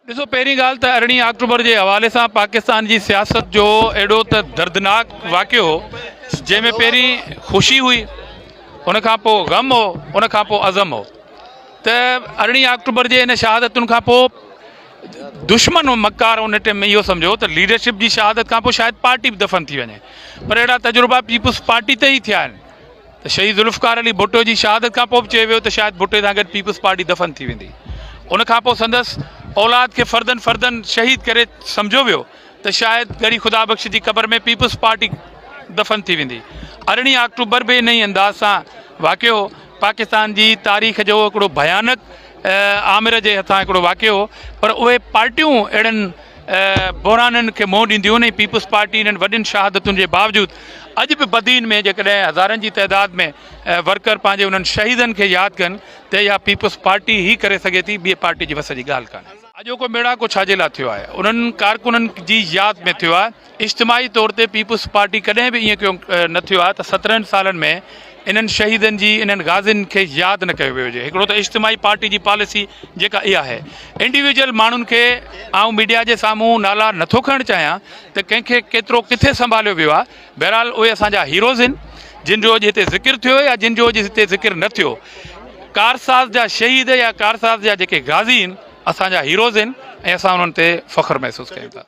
ڏسو پهرين ڳالهه ته ارڙهين آڪٽوبر جي حوالي سان پاڪستان جي سياست جو اهڙو ته دردناڪ واقعو هو جنهن ۾ پهرين خوشي هئي ان کان پوء غم هو ان کان پوء عزم هو ته ارڙهين آڪٽوبر جي ان شهادتن کان پوء دشمن مکار ان ٽائم ۾ اهو سمجهو ته ليڊرشپ جي شهادت کان پوء شايد پارٽي به دفن ٿي وڃي پر اهڙا تجربا پيپلز پارٽي تي ئي ٿيا آهن ته شهيد ذوالفقار علي ڀٽو جي شهادت کان پوء به چيو ويو ته شايد ڀٽي سان گڏ پيپلز پارٽي دفن ٿي ويندي ان کان پوء سندس اولاد کي فردن فردن شهيد ڪري سمجهيو ويو ته شايد ڳڙهي خدا بخش جي قبر ۾ پيپلز پارٽي دفن ٿي ويندي ارڙهين آڪٽوبر به ان ئي انداز سان واقع هو پاڪستان جي تاريخ جو هڪڙو ڀيانڪ آمر جي هٿان هڪڙو واقع هو پر اهي پارٽيون اهڙن بحرانن کي منهن ڏينديون ۽ پيپلز پارٽي انهن وڏين شهادتن جي باوجود اڄ به بدين ۾ جيڪڏهن هزارن جي تعداد ۾ ورڪر پنهنجي انهن شهيدن کي ياد ڪن ته اها پيپلز پارٽي ئي ڪري سگهي ٿي، ٻي پارٽي جي وس جي ڳالهه ڪانهي. اڄوڪو ميڙاڪو ڇا جي لاء ٿيو آهي؟ انهن ڪارڪنن جي ياد ۾ ٿيو آهي. اجتماعي طور تي پيپلز پارٽي ڪڏهن به ائين ڪيون نه ٿيو آهي ته سترهن سالن ۾ انهن شهيدن جي، انهن غازين کي ياد نه ڪيو ويو هجي. هڪڙو ته اجتماعي پارٽي جي پاليسي جيڪا اها آهي. انڊيويجل ماڻهن کي آئون ميڊيا جي سامهون نالا نه ٿو کڻڻ چاهيان ته ڪنهن کي ڪيترو ڪٿي سنڀاليو ويو آهي بهرحال اهي اسان جا هيروز آهن جن جو اڄ هتي ذڪر ٿيو يا جن جو اڄ هتي ذڪر نه ٿيو ڪارساز جا شهيد يا ڪارساز جا جيڪي غازي آهن اسان جا هيروز آهن ۽ اسان انهن تي فخر محسوس ڪيون ٿا